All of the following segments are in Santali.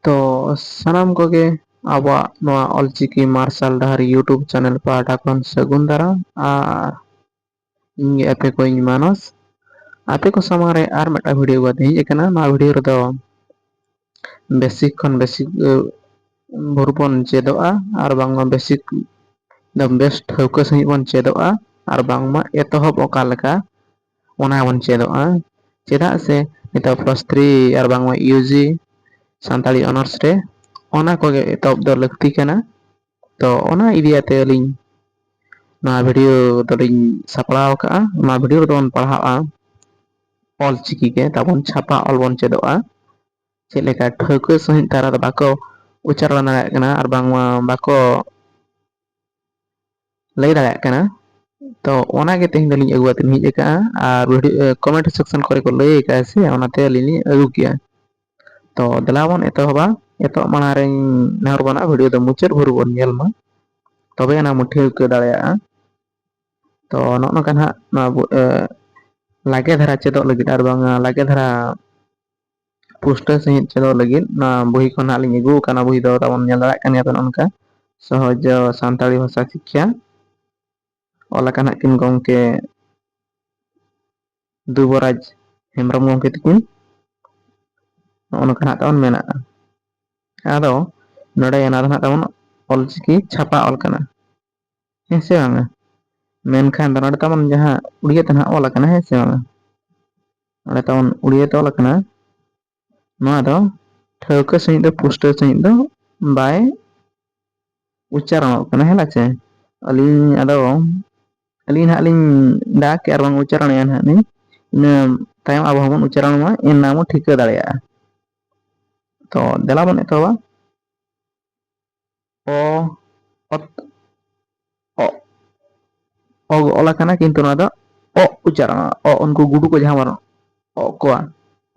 ᱛᱚ ᱥᱟᱱᱟᱢ ᱠᱚᱜᱮ ᱟᱵᱚᱣᱟᱜ ᱱᱚᱣᱟ ᱚᱞᱪᱤᱠᱤ ᱢᱟᱨᱥᱟᱞ ᱰᱟᱦᱟᱨ ᱤᱭᱩᱴᱩᱵᱽ ᱪᱮᱱᱮᱞ ᱯᱟᱦᱴᱟ ᱠᱷᱚᱱ ᱥᱟᱹᱜᱩᱱ ᱫᱟᱨᱟᱢ ᱟᱨ ᱤᱧ ᱜᱮ ᱟᱯᱮ ᱠᱚᱣᱤᱧ ᱢᱟᱱᱚᱥ ᱟᱯᱮ ᱠᱚ ᱥᱟᱢᱟᱝ ᱨᱮ ᱟᱨ ᱢᱤᱫᱴᱟᱝ ᱵᱷᱤᱰᱭᱳ ᱵᱟᱫᱮ ᱦᱮᱡ ᱟᱠᱟᱱᱟ ᱱᱚᱣᱟ ᱵᱷᱤᱰᱭᱳ ᱨᱮᱫᱚ ᱵᱮᱥᱤᱠ ᱠᱷᱚᱱ ᱵᱮᱥᱤᱠ ᱵᱷᱳᱨ ᱵᱚᱱ ᱪᱮᱫᱚᱜᱼᱟ ᱟᱨ ᱵᱟᱝᱢᱟ ᱵᱮᱥᱤᱠ ᱫᱚ ᱵᱮᱥ ᱴᱷᱟᱹᱣᱠᱟᱹ ᱥᱟᱺᱦᱤᱡ ᱵᱚᱱ ᱪᱮᱫᱚᱜᱼᱟ ᱟᱨ ᱵᱟᱝᱢᱟ ᱮᱛᱚᱦᱚᱵ ᱚᱠᱟ ᱞᱮᱠᱟ ᱚᱱᱟ ᱦᱚᱸᱵᱚᱱ ᱪᱮᱫᱚᱜᱼᱟ ᱪᱮᱫᱟᱜ ᱥᱮ ᱱᱤᱛᱚᱜ ᱯᱞᱟᱥ ᱛᱷᱨᱤ ᱟᱨ ᱵᱟᱝᱢᱟ ᱤᱭᱩ ᱡᱤ ᱥᱟᱱᱛᱟᱲᱤ ᱚᱱᱟᱨᱥ ᱨᱮ ᱚᱱᱟ ᱠᱚᱜᱮ ᱮᱛᱚᱦᱚᱵ ᱫᱚ ᱞᱟᱹᱠᱛᱤ ᱠᱟᱱᱟ ᱛᱚ ᱚᱱᱟ ᱤᱫᱤᱭᱟᱛᱮ ᱟᱹᱞᱤᱧ ᱱᱚᱣᱟ ᱵᱷᱤᱰᱭᱳ ᱫᱚᱞᱤᱧ ᱥᱟᱯᱲᱟᱣ ᱟᱠᱟᱫᱼᱟ ᱱᱚᱣᱟ ᱵᱷᱤᱰᱭᱳ ᱨᱮᱫᱚ ᱵᱚᱱ ᱯᱟᱲᱦᱟᱜᱼᱟ ᱚᱞ ᱪᱤᱠᱤ ᱜᱮ ᱛᱟᱵᱚᱱ ᱪᱷᱟᱯᱟ ᱚᱞ ᱵᱚᱱ ᱪᱮᱫᱚᱜᱼᱟ ᱪᱮᱫ ᱞᱮᱠᱟ ᱴᱷᱟᱹᱣᱠᱟᱹ ᱥᱟᱺᱦᱤᱡ ᱛᱟᱨᱟ ᱫᱚ ᱵᱟᱠᱚ ᱩᱪᱟᱨᱚᱱ ᱫᱟᱲᱮᱭᱟᱜ ᱠᱟᱱᱟ ᱟᱨ ᱵᱟᱝᱢᱟ ᱵᱟᱠᱚ ᱞᱟᱹᱭ ᱫᱟᱲᱮᱭᱟᱜ ᱠᱟᱱᱟ ᱛᱚ ᱚᱱᱟᱜᱮ ᱛᱮᱦᱮᱧ ᱫᱚᱞᱤᱧ ᱟᱹᱜᱩ ᱠᱟᱛᱮ ᱦᱮᱡ ᱟᱠᱟᱜᱼᱟ ᱟᱨ ᱵᱷᱤᱰᱤᱭᱳ ᱠᱚᱢᱮᱱᱴ ᱥᱮᱠᱥᱚᱱ ᱠᱚᱨᱮ ᱠᱚ ᱞᱟᱹᱭ ᱟᱠᱟᱫᱼᱟ ᱥᱮ ᱚᱱᱟᱛᱮ ᱟᱹᱞᱤᱧ ᱞᱤᱧ ᱟᱹᱜᱩ ᱠᱮᱜᱼᱟ ᱛᱚ ᱫᱮᱞᱟ ᱵᱚᱱ ᱮᱛᱚᱦᱚᱵᱟ ᱮᱛᱚᱦᱚᱵ ᱢᱟᱲᱟᱝ ᱨᱮᱧ ᱱᱮᱦᱚᱨ ᱵᱚᱱᱟ ᱵᱷᱤᱰᱤᱭᱳ ᱫᱚ ᱢᱩᱪᱟᱹᱫ ᱵᱷᱳᱨ ᱵᱚᱱ ᱧᱮᱞ ᱢᱟ ᱛᱚᱵᱮ ᱟᱱᱟᱜ ᱵᱚᱱ ᱴᱷᱟᱹᱣᱠᱟᱹ ᱫᱟᱲᱮᱭᱟᱜᱼᱟ ᱛᱚ ᱱᱚᱜᱼᱚ ᱱᱚᱝᱠᱟ ᱱᱟᱦᱟᱜ ᱱᱚᱣᱟ ᱞᱟᱜᱮ ᱫᱷᱟᱨᱟ ᱪᱮᱫᱚᱜ ᱞᱟᱹᱜᱤᱫ ᱟᱨ ᱵᱟᱝ ᱞᱟᱜᱮ ᱫᱷᱟᱨᱟ ᱯᱩᱥᱴᱟᱹ ᱥᱟᱺᱦᱤᱡ ᱪᱮᱫᱚᱜ ᱞᱟᱹᱜᱤᱫ ᱱᱚᱣᱟ ᱵᱩᱦᱤ ᱠᱷᱚᱱ ᱦᱟᱸᱜ ᱞᱤᱧ ᱟᱹᱜᱩ ᱟᱠᱟᱱᱟ ᱵᱩᱦᱤ ᱫᱚ ᱛᱟᱵᱚᱱ ᱧᱮᱞ ᱫᱟᱲᱮᱭᱟᱜ ᱠᱟᱱ ᱜᱮᱭᱟ ᱵᱮᱱ ᱚᱱᱠᱟ ᱥᱚᱦᱚᱡᱽ ᱥᱟᱱᱛᱟᱲᱤ ᱵᱷᱟᱥᱟ ᱥᱤᱠᱠᱷᱟ ᱚᱞ ᱟᱠᱟᱱ ᱦᱟᱸᱜ ᱠᱤᱱ ᱜᱚᱢᱠᱮ ᱫᱩᱵᱚᱨᱟᱡᱽ ᱦᱮᱢᱵᱨᱚᱢ ᱜᱚᱢᱠᱮ ᱛᱟᱹᱠᱤᱱ ᱱᱚᱜᱼᱚ ᱱᱚᱝᱠᱟ ᱦᱟᱸᱜ ᱛᱟᱵᱚᱱ ᱢᱮᱱᱟᱜᱼᱟ ᱟᱫᱚ ᱱᱚᱰᱮ ᱚᱱᱟ ᱫᱚ ᱦᱟᱸᱜ ᱛᱟᱵᱚᱱ ᱚᱞᱪᱤᱠᱤ ᱪᱷᱟᱯᱟ ᱚᱞ ᱠᱟᱱᱟ ᱦᱮᱸ ᱥᱮ ᱵᱟᱝᱼᱟ ᱢᱮᱱᱠᱷᱟᱱ ᱫᱚ ᱱᱚᱰᱮ ᱛᱟᱵᱚᱱ ᱡᱟᱦᱟᱸ ᱩᱲᱤᱭᱟᱹ ᱛᱮ ᱱᱟᱜ ᱚᱞ ᱟᱠᱟᱱᱟ ᱦᱮᱸ ᱥᱮ ᱵᱟᱝᱼᱟ ᱚᱸᱰᱮ ᱛᱟᱵᱚᱱ ᱩᱲᱤᱭᱟᱹ ᱛᱮ ᱚᱞ ᱟᱠᱟᱱᱟ ᱱᱚᱣᱟ ᱫᱚ ᱴᱷᱟᱹᱣᱠᱟᱹ ᱥᱟᱺᱦᱤᱡ ᱫᱚ ᱯᱩᱥᱴᱟᱹᱣ ᱥᱟᱺᱦᱤᱡ ᱫᱚ ᱵᱟᱭ ᱩᱪᱪᱟᱨᱚᱱᱚᱜ ᱠᱟᱱᱟ ᱦᱮᱸ ᱪᱮ ᱟᱹᱞᱤᱧ ᱟᱫᱚ ᱟᱹᱞᱤᱧ ᱦᱟᱸᱜ ᱞᱤᱧ ᱫᱟᱜ ᱠᱮᱫᱼᱟ ᱟᱨ ᱵᱟᱝ ᱩᱪᱟᱨᱚᱬᱮᱫᱼᱟ ᱦᱟᱸᱜ ᱞᱤᱧ ᱤᱱᱟᱹ ᱛᱟᱭᱚᱢ ᱟᱵᱚ ᱦᱚᱸᱵᱚᱱ ᱩᱪᱟᱨᱚᱱ ᱢᱟ ᱮᱱᱟ ᱵᱚᱱ ᱴᱷᱤᱠᱟᱹ ᱫᱟᱲᱮᱭᱟᱜᱼᱟ ᱛᱚ ᱫᱮᱞᱟ ᱵᱚᱱ ᱮᱛᱚᱦᱚᱵᱟ ᱚ ᱚᱛ ᱚ ᱚ ᱚᱞ ᱟᱠᱟᱱᱟ ᱠᱤᱱᱛᱩ ᱱᱚᱣᱟ ᱫᱚ ᱚᱜ ᱩᱪᱟᱨᱚᱜᱼᱟ ᱚ ᱩᱱᱠᱩ ᱜᱩᱰᱩ ᱠᱚ ᱡᱟᱦᱟᱸ ᱵᱟᱱᱩᱜ ᱚᱜ ᱠᱚᱣᱟ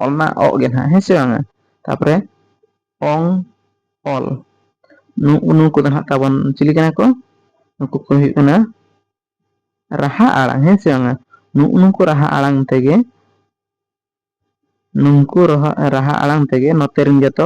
ᱚᱞ ᱢᱟ ᱚᱜ ᱜᱮ ᱱᱟᱦᱟᱜ ᱦᱮᱸ ᱥᱮ ᱵᱟᱝᱟ ᱛᱟᱯᱚᱨᱮ ᱚᱝ ᱚᱞ ᱱᱩᱜᱩ ᱱᱩᱠᱩ ᱫᱚ ᱱᱟᱜ ᱛᱟᱵᱚᱱ ᱪᱤᱞᱤ ᱠᱟᱱᱟ ᱠᱚ ᱱᱩᱠᱩ ᱠᱚ ᱦᱩᱭᱩᱜ ᱠᱟᱱᱟ ᱨᱟᱦᱟ ᱟᱲᱟᱝ ᱦᱮᱸ ᱥᱮ ᱵᱟᱝᱟ ᱱᱩᱜᱩ ᱱᱩᱠᱩ ᱨᱟᱦᱟ ᱟᱲᱟᱝ ᱛᱮᱜᱮ ᱱᱩᱝᱠᱩ ᱨᱟᱦᱟ ᱨᱟᱦᱟ ᱟᱲᱟᱝ ᱛᱮᱜᱮ ᱱᱚᱛᱮ ᱨᱮᱱ ᱡᱚᱛᱚ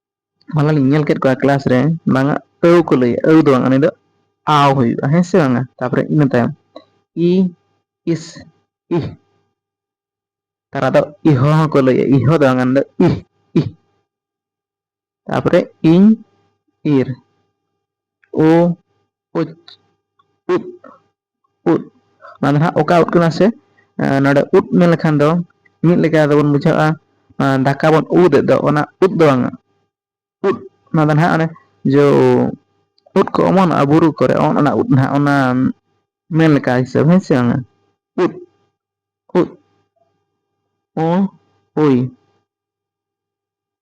ᱢᱟᱞᱮ ᱞᱤᱧ ᱧᱮᱞ ᱠᱮᱫ ᱠᱚᱣᱟ ᱠᱮᱞᱟᱥ ᱨᱮ ᱵᱟᱝᱟ ᱟᱹᱣ ᱠᱚ ᱞᱟᱹᱭᱟ ᱟᱹᱣ ᱫᱚ ᱵᱟᱝ ᱩᱱᱤ ᱫᱚ ᱟᱣ ᱦᱩᱭᱩᱜᱼᱟ ᱦᱮᱸ ᱥᱮ ᱵᱟᱝᱟ ᱛᱟᱯᱚᱨᱮ ᱤᱱᱟᱹ ᱛᱟᱭᱚᱢ ᱤ ᱤᱥ ᱤᱦ ᱛᱟᱨᱟ ᱫᱚ ᱤᱦᱚ ᱦᱚᱸᱠᱚ ᱞᱟᱹᱭᱟ ᱤᱦᱚ ᱫᱚ ᱵᱟᱝᱟ ᱫᱚ ᱤᱦ ᱤᱦ ᱛᱟᱯᱚᱨᱮ ᱤᱧ ᱤᱨ ᱳ ᱩᱫ ᱩᱫ ᱩᱫ ᱚᱱᱟ ᱫᱚ ᱦᱟᱸᱜ ᱚᱠᱟ ᱩᱫ ᱠᱟᱱᱟ ᱥᱮ ᱱᱚᱰᱮ ᱩᱫ ᱢᱮᱱ ᱞᱮᱠᱷᱟᱱ ᱫᱚ ᱢᱤᱫ ᱞᱮᱠᱟ ᱫᱚᱵᱚᱱ ᱵᱩᱡᱷᱟᱹᱜᱼᱟ ᱫᱟᱠᱟ ᱵᱚᱱ ᱩᱫ ᱮᱫ ᱫᱚ ᱚᱱᱟ ᱩᱫ ᱫᱚ ᱵᱟᱝᱟ ᱩᱫ ᱚᱱᱟ ᱫᱚ ᱱᱟᱦᱟᱜ ᱚᱱᱮ ᱡᱚ ᱩᱫ ᱠᱚ ᱚᱢᱚᱱᱚᱜᱼᱟ ᱵᱩᱨᱩ ᱠᱚᱨᱮ ᱚᱱ ᱚᱱᱟ ᱩᱫ ᱱᱟᱦᱟᱜ ᱚᱱᱟ ᱢᱮᱱ ᱞᱮᱠᱟ ᱦᱤᱥᱟᱹᱵ ᱦᱮᱸ ᱥᱮ ᱵᱟᱝᱟ ᱩᱫ ᱩᱫ ᱚ ᱳᱭ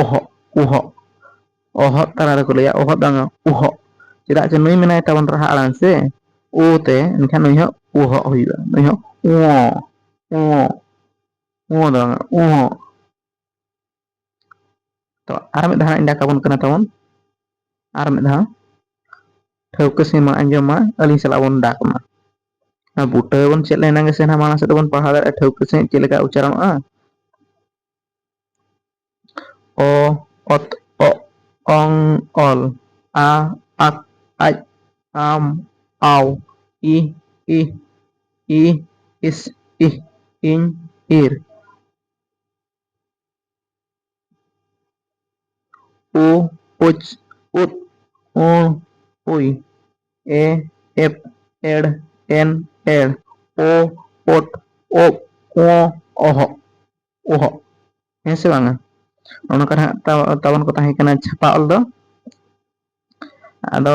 ᱚᱦᱚᱜ ᱩᱦᱚᱜ ᱚᱦᱚᱫ ᱛᱟᱞᱟ ᱨᱮᱠᱚ ᱞᱟᱹᱭᱟ ᱚᱦᱚᱫ ᱵᱟᱝ ᱩᱦᱚᱜ ᱪᱮᱫᱟᱜ ᱡᱮ ᱱᱩᱭ ᱢᱮᱱᱟᱭ ᱛᱟᱵᱚᱱ ᱨᱟᱦᱟ ᱟᱲᱟᱝ ᱥᱮ ᱳ ᱛᱮ ᱮᱱᱠᱷᱟᱱ ᱱᱩᱭ ᱦᱚᱸ ᱩᱦᱚᱜ ᱦᱩᱭᱩᱜᱼᱟ ᱱᱩᱭ ᱦᱚᱸ ᱳ ᱳ ᱳ ᱫᱚ ᱵᱟᱝ ᱩᱦᱚᱜ ᱛᱚ ᱟᱨ ᱢᱤᱫ ᱫᱷᱟᱣ ᱤᱧ ᱰᱟᱠ ᱟᱵᱚᱱ ᱠᱟᱱᱟ ᱛᱟᱵᱚᱱ ᱟᱨ ᱢᱤᱫ ᱫᱷᱟᱣ ᱴᱷᱟᱹᱣᱠᱟᱹ ᱥᱮ ᱢᱟ ᱟᱸᱡᱚᱢ ᱢᱟ ᱟᱹᱞᱤᱧ ᱥᱟᱞᱟᱜ ᱵᱚᱱ ᱰᱟᱠ ᱢᱟ ᱱᱚᱣᱟ ᱵᱩᱴᱟᱹ ᱵᱚᱱ ᱪᱮᱫ ᱞᱮᱱᱟ ᱜᱮᱥᱮ ᱱᱟᱦᱟᱜ ᱢᱟᱲᱟᱝ ᱥᱮᱫ ᱫᱚᱵᱚᱱ ᱯᱟᱲᱦᱟᱣ ᱫᱟᱲᱮᱭᱟᱜᱼᱟ ᱴᱷᱟᱹᱣᱠᱟᱹ ᱥᱟᱺᱦᱤᱡ ᱪᱮᱫ ᱞᱮᱠᱟ ᱩᱪᱪᱟᱨᱚᱱᱚᱜᱼᱟ ᱚ ᱚᱛ ᱚ ᱚᱝ ᱚᱞ ᱟ ᱟᱠ ᱟᱡ ᱟᱢ ᱟᱣ ᱤ ᱤ ᱤ ᱤᱥ ᱤ ᱤᱧ ᱤᱨ ᱳ ᱳᱪ ᱳᱫ ᱳ ᱳᱭ ᱮ ᱮᱯ ᱮᱲ ᱮᱱ ᱮᱲ ᱳ ᱳᱫ ᱳᱜ ᱳ ᱚᱦᱚᱜ ᱚᱦᱚᱜ ᱦᱮᱸ ᱥᱮ ᱵᱟᱝᱟ ᱱᱚᱜ ᱱᱚᱝᱠᱟ ᱦᱟᱸᱜ ᱛᱟᱵᱚᱱ ᱠᱚ ᱛᱟᱦᱮᱸ ᱠᱟᱱᱟ ᱪᱷᱟᱯᱟ ᱚᱞ ᱫᱚ ᱟᱫᱚ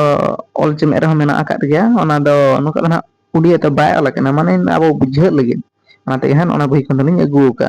ᱚᱞ ᱪᱮᱢᱮᱫ ᱨᱮᱦᱚᱸ ᱢᱮᱱᱟᱜ ᱟᱠᱟᱫ ᱜᱮᱭᱟ ᱚᱱᱟ ᱫᱚ ᱱᱚᱝᱠᱟ ᱫᱚ ᱦᱟᱸᱜ ᱩᱰᱤᱭᱟᱹ ᱛᱮ ᱵᱟᱭ ᱚᱞ ᱟᱠᱟᱱᱟ ᱢᱟᱱᱮ ᱟᱵᱚ ᱵᱩᱡᱷᱟᱹᱜ ᱞᱟᱹᱜᱤᱫ ᱚᱱᱟᱛᱮ ᱦᱟᱸᱜ ᱚᱱᱟ ᱵᱳᱭ ᱠᱷᱚᱱ ᱫᱚᱞᱤᱧ ᱟᱹᱜᱩ ᱟᱠᱟᱜᱼᱟ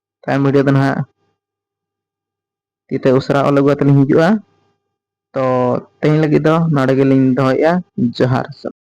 ᱛᱟᱭᱚᱢ ᱵᱷᱤᱰᱤᱭᱳ ᱫᱚ ᱱᱟᱦᱟᱜ ᱛᱤᱛᱮ ᱩᱥᱟᱹᱨᱟ ᱚᱞ ᱟᱹᱜᱩ ᱠᱟᱛᱮ ᱞᱤᱧ ᱦᱤᱡᱩᱜᱼᱟ ᱛᱚ ᱛᱮᱦᱮᱧ ᱞᱟᱹᱜᱤᱫ ᱫᱚ ᱱᱚᱰᱮ ᱜᱮᱞᱤᱧ ᱫᱚᱦᱚᱭᱮᱫᱼᱟ ᱡᱚᱦᱟᱨ